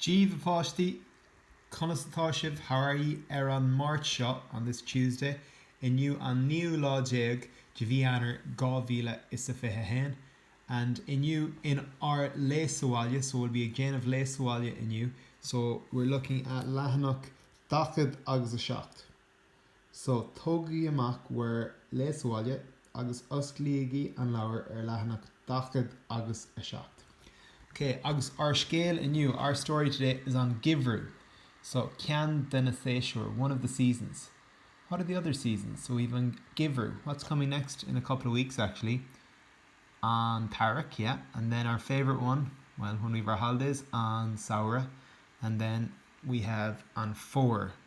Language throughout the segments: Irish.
Daoibh a páistí! Conas atá sibh how are ye ar an Máirt seo, on this Tuesday, inniu an naoú lá déag de mhí Eanáir dhá mhíle is a fiche haon and inniu in ár Léigh sa Bhaile, so we'll be ag déanamh Léigh sa Bhaile inniu, so we're looking at leathanach dachad agus a seacht. So, tógaigí amach bhur Léigh sa Bhaile agus osclaígí an leabhar ar leathanach dachad agus a seacht. K, agus ár scéal inniu, our story today is an geimhreadh. So, ceann de na séasúir, one of the seasons. What are the other seasons? So, we've an geimhreadh, what's coming next? In a couple of weeks, actually. An t-earrach, yeah. And then our favourite one, well, when we've our holidays, an samhradh. And then we have an fómhar.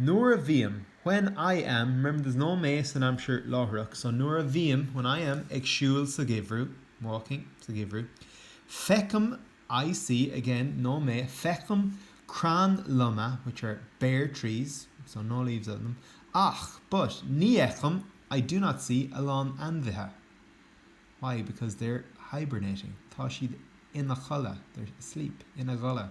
Nuair a bhím, when I am, remember there's no mé san aimsir láithreach so nuair a bhím, when I am, ag siúl sa gheimhreadh, walking, sa gheimhreadh, feicim, I see, again, no mé, feicim crainn loma, which are bare trees, so no leaves on them, ach, but, ní fheicim, I do not see, a lán ainmhithe. Why? Because they're hibernating. Tá siad ina chodladh, they're asleep, ina gcodladh.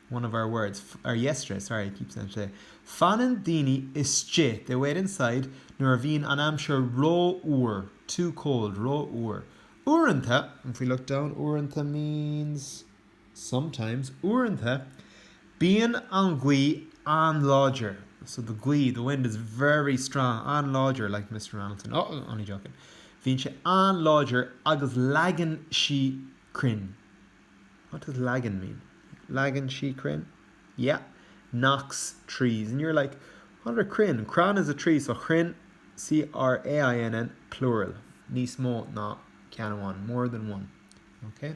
one of our words, or yesterday, sorry, I keep saying today. Fanann daoine istigh, they wait inside, nuair a bhíonn an aimsir rófhuar, too cold, rófhuar. Uaireanta, if we look down, uaireanta means sometimes, uaireanta bíonn an ghaoth an-láidir, so the gaoth, the wind is very strong, an-láidir, like Mr Ronaldson, oh, only joking. Bhíonn sé an-láidir agus leagann sí crainn. What does leagann mean? Leagann sí crainn? Yeah. Knocks trees. And you're like, what are crainn? Crann is a tree. So crainn, C-R-A-I-N-N, plural. Níos mó ná ceann amháin. More than one. Okay?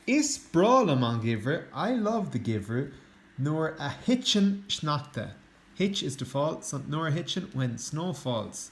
Is breá liom an geimhreadh. I love the geimhreadh. Nuair a thiteann sneachta. Thit is to fall. So nuair a thiteann, when snow falls.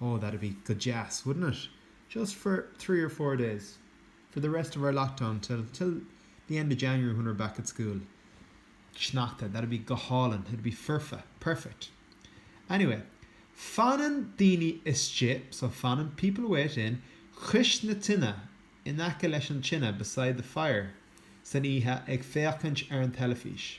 Oh, that'd be go deas, wouldn't it? Just for three or four days. For the rest of our lockdown, till, till the end of January when we're back at school. Sneachta, that'd be go hálainn, it'd be foirfe, perfect. Anyway, fanann daoine istigh, so fanann people wait in, chois na tineadh, in aice leis an tine, beside the fire, san oíche ag féachaint ar an teilifís.